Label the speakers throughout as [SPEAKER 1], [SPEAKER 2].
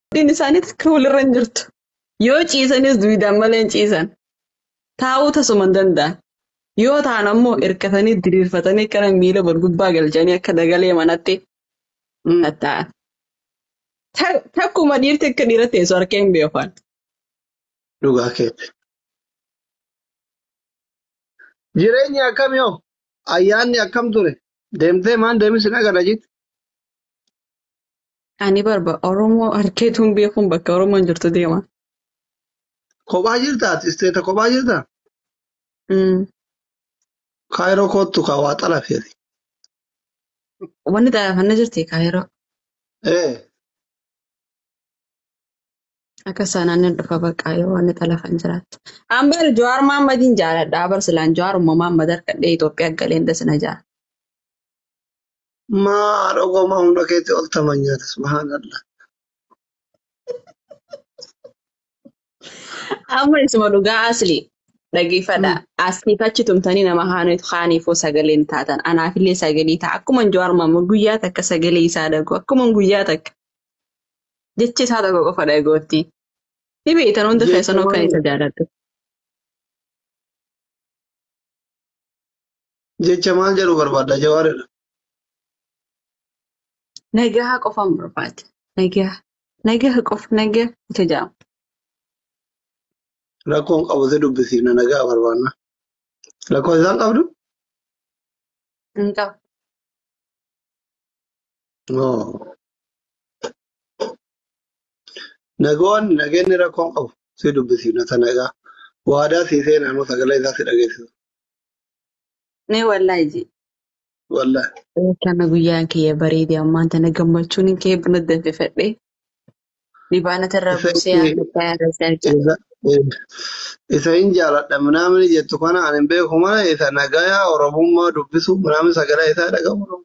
[SPEAKER 1] Abdiin isaanii takka walirra hin jirtu. Yoo ciisanis duwidaan malee hin ciisan. Taa'uu tasuma hin danda'an. Yoo ta'an ammoo hirkatanii diriirfatanii akkana miila wal gubbaa galchanii akka dagalee manatti hin taa'an. Ta- Takkuma dhiirti akka dhiira teessu harkee hin beekan.
[SPEAKER 2] Dhugaa keetti. Jireenyi akkami hoo? Ayyaanni akkam ture? Deemtee maan deemis hin agarra jitti?
[SPEAKER 1] Ani barba Oromoo harkeetu hin beekuun bakka Oromoon jirtu deema.
[SPEAKER 2] Kophaa jirtaa ati isteeta kophaa jirtaa? Mm. Kaayiroo koottu kaa waa xalafeeti.
[SPEAKER 1] Wanni xalafanna jirti kaayiroo. Ee Akka saanaan nan dhufa baqqaa yoo wanni xalafan jiraatte. An bar Jawaar Mahammadiin jaaladha. Bar silaan Jawaar ummamaan madar kadhee Itoophiyaa galeen dasina jaa.
[SPEAKER 2] Maa haadha goomaa humna keetti ol taman nyaata subhaanallah.
[SPEAKER 1] Amma isuma dhugaa asli dhageeffadha. Mm. Asiif achi tumtanii nama haaniif haaniifoo sagalee hin taatan. Anaafillee sagalee ta'a. Akkuma Jawaar Mohaammed guyyaa takka sagalee isaa dhagoo. Akkuma guyyaa takka jecha isaa tokko qofa dhagootti. Ni beektan hundi Jecha keessanuu kan maali? isa jaalladhu.
[SPEAKER 2] Jecha maal jedhu barbaadda jawaaridha.
[SPEAKER 1] Nagaha qofaan barbaade. Nagaha. Nagaha qofa nagaha ita jedhama.
[SPEAKER 2] Rakkoon qabu si dubbisiifna nagaa barbaanna. Rakkoo isaan qabdu?
[SPEAKER 1] Hin qabu. Oo.
[SPEAKER 2] Nagoon nageenni rakkoon qabu si dubbisiifna ta nagaa. Waadaa sii seenaanuu sagalee isaa si dhageessisu.
[SPEAKER 1] Mee wallaahi jee.
[SPEAKER 2] Wallah. Kana guyyaan
[SPEAKER 1] kiyya bareedee ammaan tana gammachuun hin kee buna danfifadhee libaana tarraa Isa buusee yaa takkaa yaa rasaa jee. isa
[SPEAKER 2] isa hin jaaladha minaamini jettu kana ani hin beeku mana isa nagaya oromummaa dubbisu minaamini sagalee isaa dhagahu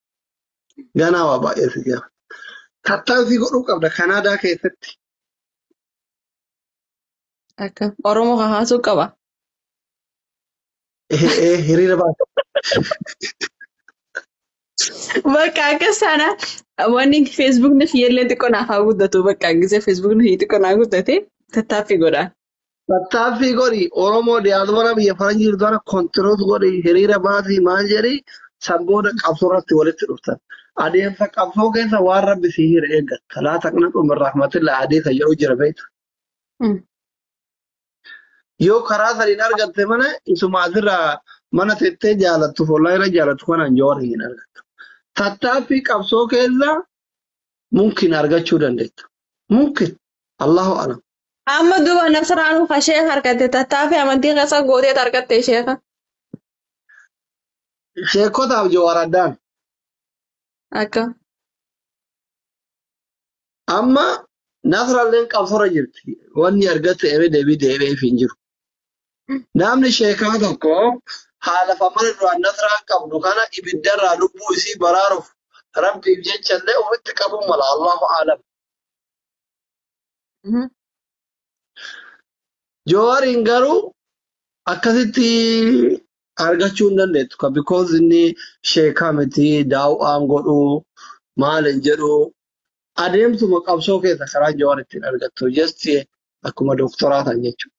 [SPEAKER 2] Ganaa waa baay'ee si jira. Tattaaffii godhuu qabda Kanaadaa keessatti.
[SPEAKER 1] Akka Oromoo kan haasuu qaba.
[SPEAKER 2] Eh, eh, hiriira baasa.
[SPEAKER 1] Bakka akka sana wanni Facebook na fiyyellee xiqqoo naaf haa guddatu. Bakka gisee Facebook na xiqqoo naa guddate tattaaffii godha. Tattaaffii
[SPEAKER 2] godhi Oromoo diaspora biyya faranjii jirtu kana contribute godhi hiriira baasi maal jedhi san booda qabsoo irratti walitti dhuftan. Adeemsa qabsoo keessa waan rabbi si hire eeggatta. Laa taqnatu min rahmatillah hadiisa jedhu jira beekta. Mm. Yoo karaa saniin argatte malee isuma asirra mana tettee jaalattu follaa irra jaalattu kanaan jawara hin argattu. Tattaaffii qabsoo keessa mumkin argachuu dandeetta. Mumkin Allahu alam. Amma duba
[SPEAKER 1] nasraanuu ka sheeka argatte tattaafi amantii keessa gooteet argatte sheeka.
[SPEAKER 2] Sheekotaaf jawaar addaan.
[SPEAKER 1] Akka.
[SPEAKER 2] Amma nasralleen qabsora jirti. Wanni argatte ebe deebii deebi'eef hin jiru. Namni sheekaa tokko haalaaf amala duraan nasraan qabdu kana ibiddarraa lubbuu isii baraaruuf rabbiif jechallee ofitti qabuu mala Allahu aalam. Jowaariin garuu akkasitti argachuu hin dandeettu ka because inni sheekaa miti daaw'aan godhu maal hin jedhu adeemsuma qabsoo keessa karaa Jowaar ittiin argattu just Akkuma dooktoraa ta'an jechuudha.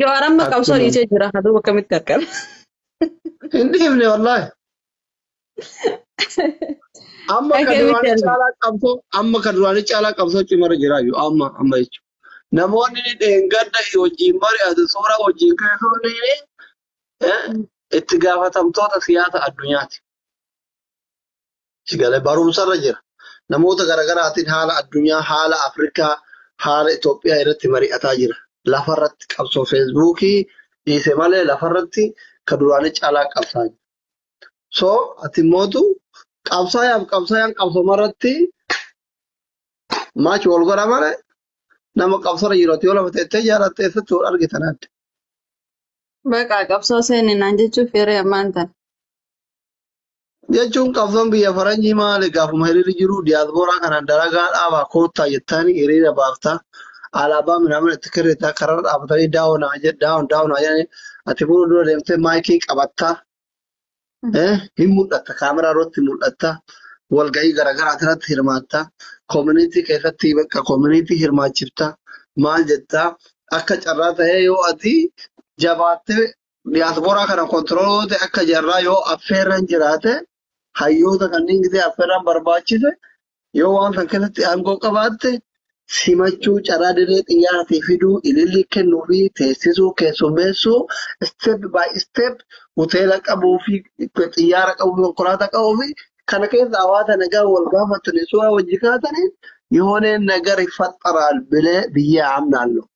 [SPEAKER 1] Jawaar amma qabsoo Akkuma dhiisee jira. Haduuba akkamitti argan?
[SPEAKER 2] hin dhiifne wallaahi. Amma kan Akkamitti duraanii argan? caalaa qabsoo amma kan duraanii caalaa qabsoo cimarra jira iyyuu amma amma jechuudha. Namoonni dheengadda wajjin mari'atu suuraa wajjin keessoo ni eh, itti gaafatamtoota siyaasa addunyaati. Sigale barumsarra jira. Namoota garaagaraatiin haala addunyaa, haala Afrikaa, haala Itoophiyaa irratti mari'ataa jira. Lafarratti qabsoo feesbuukii dhiise malee lafarratti ka duraanii caalaa qabsaa jira. So ati mootu qabsaayaaf qabsaayaan qabsoma irratti maachi wal godha malee nama qabsara jiru ati yoo lafa teettee jaalatte eessatti wal argitan adda.
[SPEAKER 1] Baqa qabsoo seeninaan jechuuf yeroo ammaan tana. Jechuun
[SPEAKER 2] qabsoon biyya faranjii maali gaafuma hiriirri jiru diyaaspooraa kanaan dalagaa dhaabaa koottaa jettaanii hiriira baaftaa alaabaa minaamin itti kirritaa kararra dhaabatanii daawonaa jedh- daawon daawonaa jedhanii ati fuula dura deemtee maayikii qabattaa eh, hin mul'atta kaameraa irratti mul'atta walga'ii garaagaraa irratti hirmaatta koomunitii keessatti bakka koomunitii hirmaachifta maal jettaa akka carraa ta'ee yoo ati jabaattee diyaaspooraa kana kontirooloota akka jarraa yoo affeerran jiraate hayyoota kanneen gidee affeerran barbaachise yoo waan kan keessatti aangoo qabaatte simachuu carraa dirree xiyyaaraatii fiduu ilillii kennuu fi teessisuu keessummeessuu step by step hoteela qabuu fi xiyyaara qabuu fi konkolaataa qabuu fi kana keessa hawaasa nagaa wal gaafatanii suuraa wajji kaatanii yooneen nagari faxxaraan bilee biyyaa amnaallu.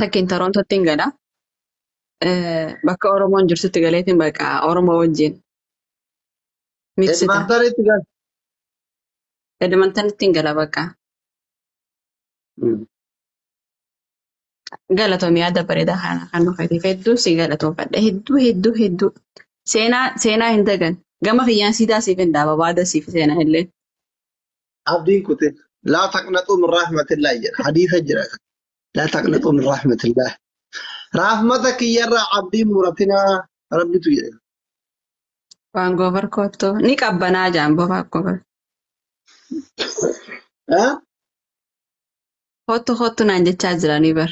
[SPEAKER 1] Takkiin Torontootti hin gala. Eh, Bakka Oromoon jirtutti galeetiin bakka Oromoo wajjin miksita. Edmantanitti gal.
[SPEAKER 2] Edmantanitti
[SPEAKER 1] hin gala bakka. Galatoom yaada bareedaa kana kan nu fayyadu hedduu si galatoomfadha. Hedduu hedduu hedduu. Seenaa seenaa hin dagan. Gama kiyyaan siidaa siif hin dhaaba baada siif seenaa illee.
[SPEAKER 2] abdiin kutin laa taqnaxuu min rahmatillaah jedha hadiisa jira kan laa taqnaxuu min rahmatillaah rahmata kiyyarraa abdiin muratinaa rabbitu jedhe
[SPEAKER 1] Waan goobar koottu ni qabbanaa jaan bobaa goobar. Eh? Koottu koottu naan jechaa jiranii bar.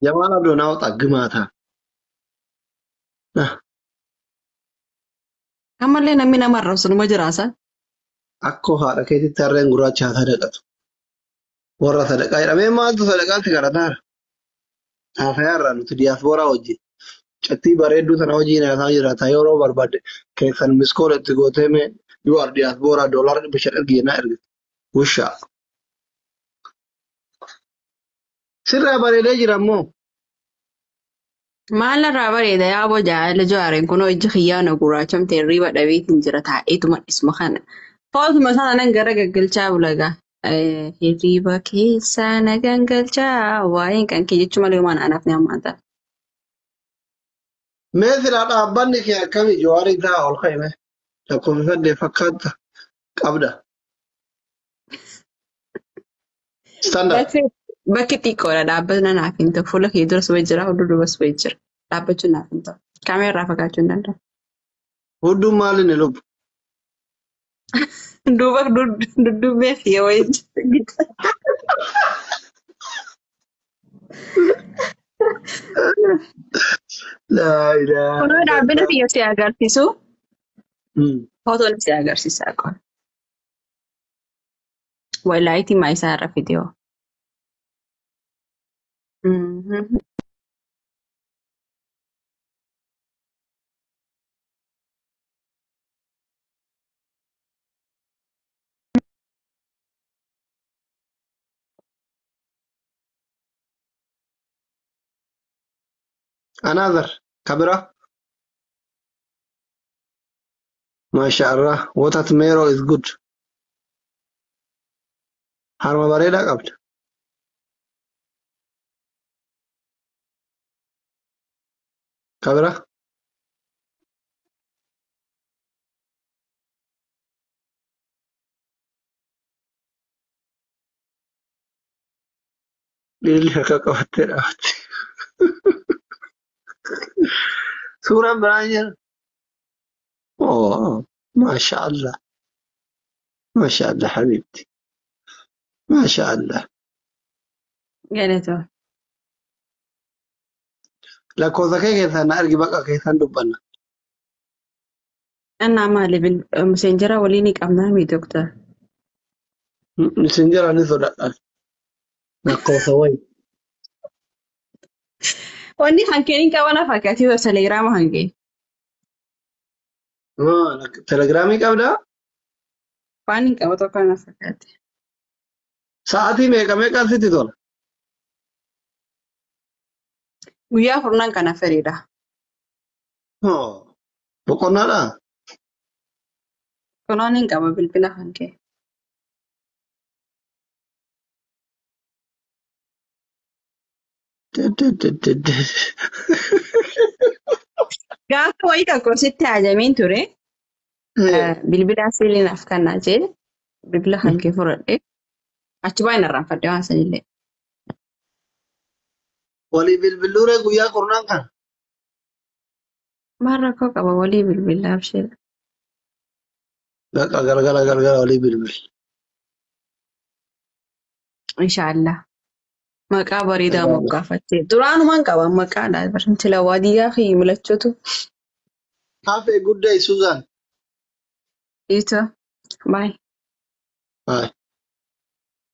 [SPEAKER 1] jamaal
[SPEAKER 2] abdoo naa waxa gimaataa
[SPEAKER 1] Ammallee namni nama arrabsu numa jiraasa. Akkoo
[SPEAKER 2] haadha keetitti harreen gurraacha haa sadaqatu. Warra sadaqaa jedhamee maaltu sadaqaatti garataara? Haasayaa irraa nuti diyaaspooraa wajjin. Cattii bareedduu sana wajjin haasaa jiraata yeroo barbaadde keessan miskoola itti gootee mee you are diyaaspooraa doolaara dhibba shan ergi jennaa ergite. Wushaa. Sirraa bareedee jira ammoo.
[SPEAKER 1] Maal irraa bareeda yaa bojaa ala jaareen kunoo ijji kiyyaa na gurraachamte hirriiba dhabeetiin jira taa'eetuma dhisma kana. Footuma isaa nan gara gaggalchaa bulagaa. Hirriiba keessaa na gangalchaa waa'een kan kee jechuu malee waan anaaf ni hammaata.
[SPEAKER 2] Mee silaa dhaabbanni kee akkamii Jawaar irraa ol ka'e mee? Lakkoofifadde fakkaata qabda. Stand up. Bakki bakki
[SPEAKER 1] xiqqoodha dhaabbachuu naaf hin ta'u. Fuula kee duras wayii jira, fuula duubas wayii jira. Dhaabbachuu naaf hin ta'u. Kaameeraa irraa fagaachuu hin danda'u. Hudduun
[SPEAKER 2] maali ni lubbu?
[SPEAKER 1] Duuba dudduubee fi wayii jira.
[SPEAKER 2] Laa ilaaha Kunoo dhaabbina illallah.
[SPEAKER 1] kiyya si agarsiisu. Hmm. Fotoon si agarsiisaa qofa. Walaayitii maa isaa irra fidiyoo. Mhm.
[SPEAKER 2] Another kabira. MashaAllah what at Mero is good. Harma bareedaa qabda. Kabira. Miilli harka qabattee dhaabatti. Suuraan biraan jira. Oo, maasha Allah. Maasha Allah habiibti. Maasha Allah.
[SPEAKER 1] Galatoo.
[SPEAKER 2] Lakkoofsa kee keessaan na argi baqa keessaan dubbanna.
[SPEAKER 1] Annaa maali bil miseenjera walii ni qabnaa mi doktar?
[SPEAKER 2] Isin jira ni sodaadha. Lakkoofsa wayi.
[SPEAKER 1] Wanni kan kee hin qabana fakkaati yoo telegraama kan kee. Maa
[SPEAKER 2] lak- Telegiraamii qabdaa?
[SPEAKER 1] Waan hin qabu tokko na fakkaate.
[SPEAKER 2] Sa'aatii meeqa meeqaan sitti tola?
[SPEAKER 1] Guyyaa furnan kana fedhiidha. Hoo.
[SPEAKER 2] Boqonnaadhaa?
[SPEAKER 1] Toloon hin qaba bilbila kan kee. Gaafa wayii tokko sitti haajamiin ture. Eh, Bilbila siiliin af kannaa jee bilbila kan kee fudhadhe. Achi baay'een irraanfadhe waan sanillee.
[SPEAKER 2] Walii bilbiluuree guyyaa kurnaan kan. Maal
[SPEAKER 1] rakkoo qaba walii bilbila abshir.
[SPEAKER 2] Baqa galgala galgala walii bilbil.
[SPEAKER 1] Inshaallah. Maqaa bareedaa Irraa bas. moggaafattee. Duraanumaan qaba maqaadha. Barantila waadiyyaa fi milachuutu.
[SPEAKER 2] Have a good day Suzan. Iito. Baay. Bye.